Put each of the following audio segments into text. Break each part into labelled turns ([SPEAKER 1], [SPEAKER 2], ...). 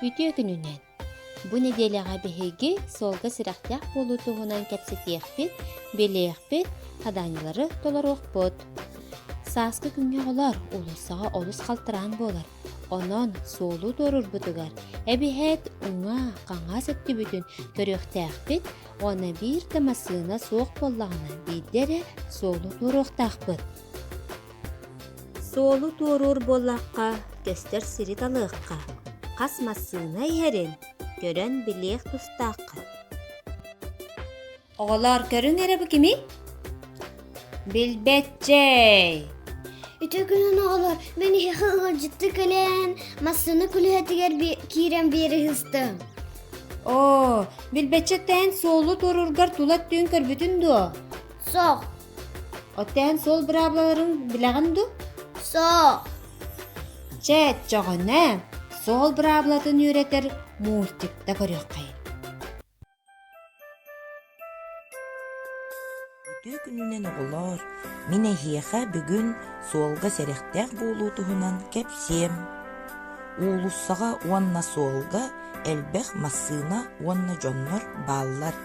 [SPEAKER 1] Үтүө күнүнэн! Бу нэдиэлэҕэ биһиги суолга сүрэхтээх буолуу туһунан кэпсэтиэхпит, билиэхпит, хадаанньалары толоруохпут. Сааскы күҥҥэ оҕолор улуссаҕа олус халтараан буолар. Онон суолу туорурбутугар эбиһээт уҥа, хаҥас өттүбүтүн көрүөхтээхпит уонна биир да массыына суох буоллаҕына биирдэ эрэ суолу туоруохтаахпыт. Суолу туоруур буоллахха, көстөр сири талыахха, хас массыына иһэрин көрөн билиэх тустаахха. Оҕолоор, көрүҥ эрэ бу кими? Билбэтчэй! Ити күнүн оҕолор, мен иһэ ыалдьытты кэлэн, массыына күлүһэтигэр киирэн биэри ыстым. Оо, билбэтчэттээн суолу туоруургар тула түүн көрбүтүн дуо? Соқ, Оттоон сол быраабылаларын билэҕин дуу? Соох. Чэ, өччөҕүнэ суол быраабылатын үөрэтэр мультикта көрүөххэй. Үтүө күнүнэн оҕолоор, мин эһиэхэ бүгүн суолга сэрэхтээх буолуу туһунан кэпсиэм. Уулуссаҕа уонна суолга элбэх массыына уонна дьоннор бааллар.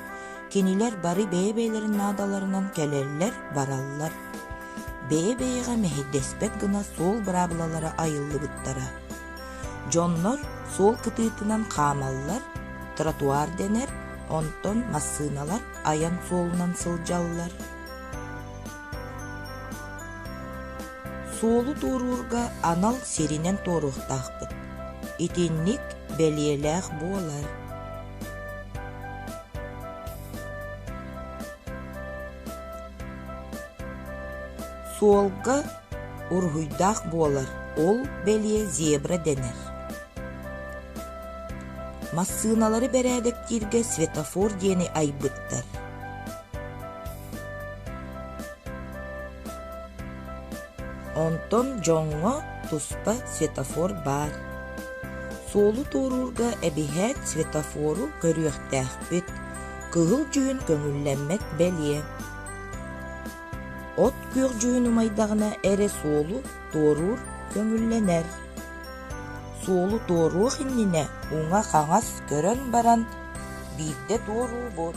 [SPEAKER 1] Кинилэр бары бэйэ-бэйэлэрин наадаларынан кэлэллэр-бараллар. Бэйэ-бэйэҕэ мэһэйдэспэт гына суол быраабылалара айыллыбыттара. Дьоннор суол кытыытынан хаамаллар, тротуар дэнэр, онтон массыыналар айан суолунан сылдьаллар. Суолу туоруурга анал сиринэн туоруохтаахпыт. Итинник бэлиэлээх буолар. Суолга уруһуйдаах буолар ол бэлиэ зебра дэнэр. Массыыналары бэрээдэктииргэ светофор диэни айбыттар. Онтон дьоҥҥо туспа светофор баар. Суолу туоруурга эбиһээт светофору көрүөхтээхпит, кыһыл дьүһүн көҥүллэммэт бэлиэ. От күөх дьүһүн умайдаҕына эрэ суолу туоруур көҥүллэнэр. Суолу туоруох иннинэ уҥа-хаҥас көрөн баран биирдэ туоруу бут.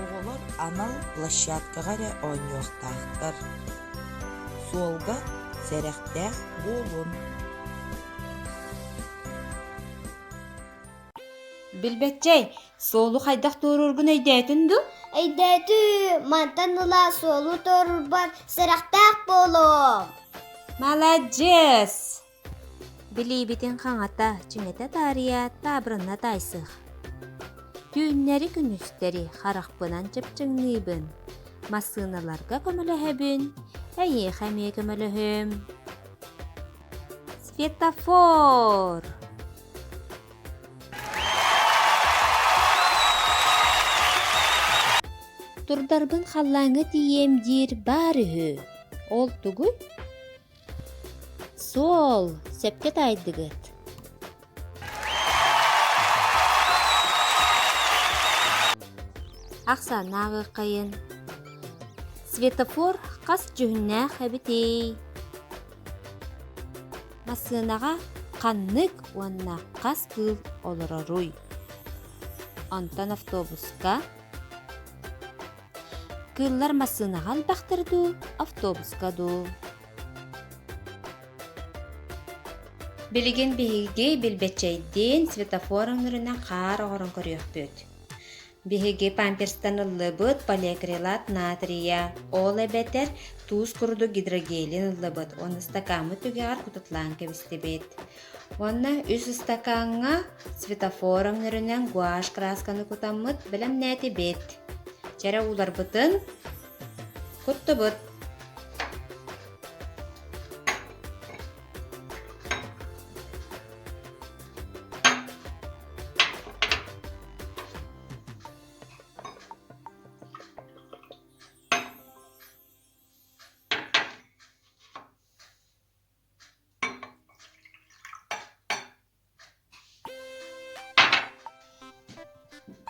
[SPEAKER 1] Оҕолор анал площадкаҕа эрэ оонньуохтаахтар, суолга сэрэхтээх буолун. Билбэтчэй, суолу хайдах туоруургун өйдөөтүн дуу? Өйдөөтүү, мантан ыла суолу туорурбар сэрэхтээх буолуом. Маладьыас! Билиибитин хаҥата, түҥэтэ таарыйа, таабырына таайсых. Түүннэри-күнүстэри харахпынан чыпчыҥныыбын. Массыыналарга көмөлөһөбүн. Эйиэхэ эмиэ көмөлөһүм. Светофор! Турдарбын халлааҥҥа тиийиэм диир баар үһү. Ол тугуй? Суол, сөпкө таайдыгыт. Ахсаанааҕыкайын Светофор хас дьүһүннээх эбитий? Массыынаҕа ханнык уонна хас кыыл олороруй? Онтон автобуска Кыыллар массыынаҕа элбэхтэр дуу, автобуска дуу? Билигин биһиги билбэччэйдиин светофор өҥнөрүнэн хаар оҥорон көрүөхпүт. Биһиги памперстан ыллыбыт полиакрилат натрия, ол эбэтэр туус курдук гидрогелин ыллыбыт уонна стакаммыт түгэҕэр кутутлаан кэбистибит. Уонна үс ыстакааҥҥа светофор өҥнөрүнэн гуашь красканы кутаммыт бэлэмнээти бит. Чэрэ ууларбытын куттубут.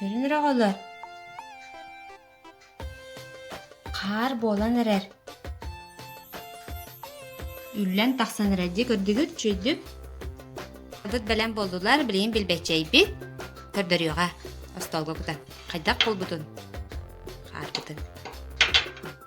[SPEAKER 1] Диэн эрэ оҕолор хаар буолан эрэр үллэн тахсан эрэр дии көрдүгүт чүйдүп Адыт бэлэм болдулар билигин билбэччэйбит көрдөрүөҕэ остуолга кутан хайдах булбутун хаарбытын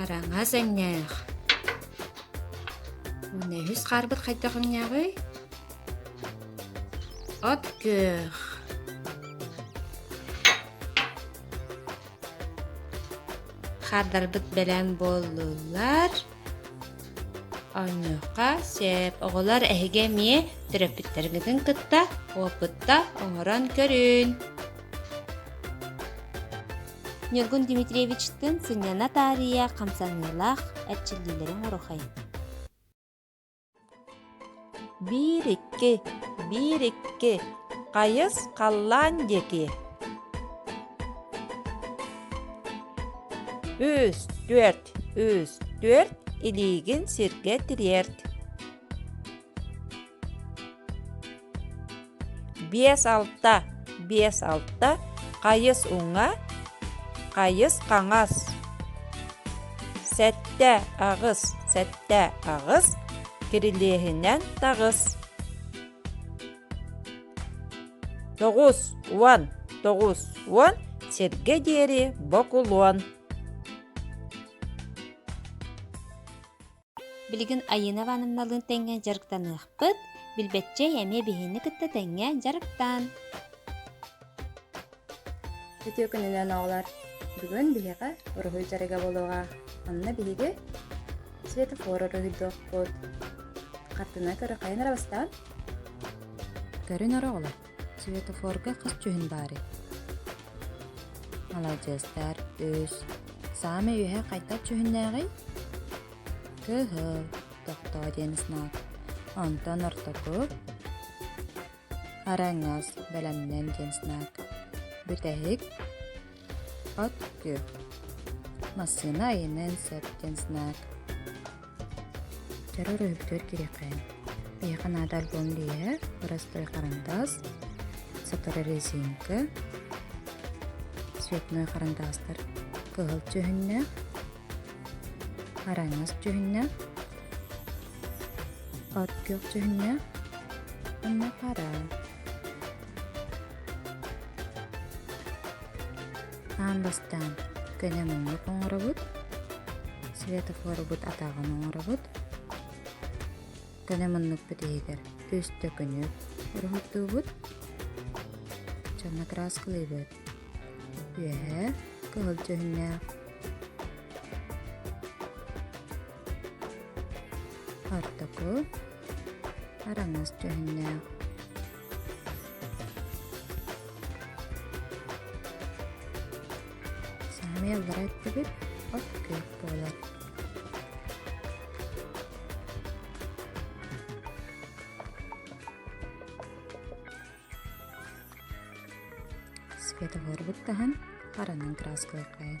[SPEAKER 1] Араҥас эҥнээх. Уонна үһүс хаарбыт хайдах эҥнээҕий? От күөх. Хаардарбыт бэлэм буоллулар. Оннука сеп. Оҕолор эһиги эмиэ төрөппүттэргитин кытта опытта оҥорон көрүн. Ньургун Дмитриевичтыын сынньана таарыйа хамсаныылаах эрчиллиилэрин урухай. Биир икки, биир икки, хайыс халлаан диэки. Үс, түөрт, үс, түөрт, илиигин сиргэ тириэрт. биэс алта биэс алта хайыс уҥа хайыс хаҥас сэттэ аҕыс сэттэ аҕыс кирилиэһинэн таҕыс тоҕус уон тоҕус уон сиргэ диэри бокулуон Билигин Айыына Ивановналыын тэҥҥэ дьарыктаныахпыт. Билбэччэй эмиэ биһиэни кытта тэҥҥэ дьарыктаан. Үтүө күнүнэн оҕолор! Бүгүн биһиэхэ уруһуй дьарыга буолуоҕа. Онно биһиги светофор уруһуйдуохпут. Хартына көрө хайан эрэ бастаан. Көрүн өр оҕолор! Светофорга хас дьүһүн баарый? Маладьыастар, үс. Саамай үөһэ хайдах дьүһүннээҕий? Кыһыл, тохтоо диэн знак. Онтон ортоку араҥас, бэлэмнэн диэн знак. Бүтэһик От кү. Массыына айанын сөп диэн санаат. Төрөр өһүгтүөр кириэхэ. Эйэхэ наада альбом лиэһэ, боростой харандаас, сотору резинка, цветной харандаастар кыһыл түһүннэ, араҥас түһүннэ, от күөх түһүннэ, инна пара. Аан бастаан көнө муннук оҥоробут, светофорубут атаҕын оҥоробут. Көнө муннукпут иһигэр үстэ күнүк уруһурдуубут. Чонно краскалыыбыт. Үөһэ кыһыл дьүһүннээх. Ортоку араҥас дьүһүннээх. Саамай аллара өттүбүт от күөх буолар. Светофорбут таһан харанын краскылыкайын.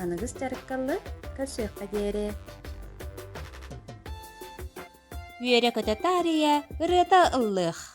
[SPEAKER 1] аныгыс дьарыккаллы көрсүөххэ диэри үөрэ-көтө таарыйа ырыата ыллыах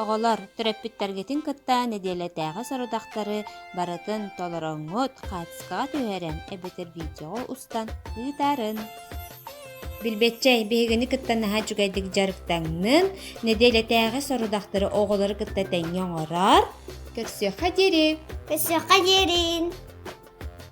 [SPEAKER 1] Оҕолор, төрөппүттэргитин кытта нэдиэлэтээҕи сорудахтары барытын толороҥҥут, хаартыскаҕа түһэрэн эбэтэр видеоҕа устан ыытарын. Билбэтчэй, биһигини кытта наһаа үчүгэйдик дьарыктаҥнын. Нэдиэлэтээҕи сорудахтары оҕолору кытта тэҥҥэ оҥорор. Көрсүөххэ диэри! Көрсүөххэ диэри!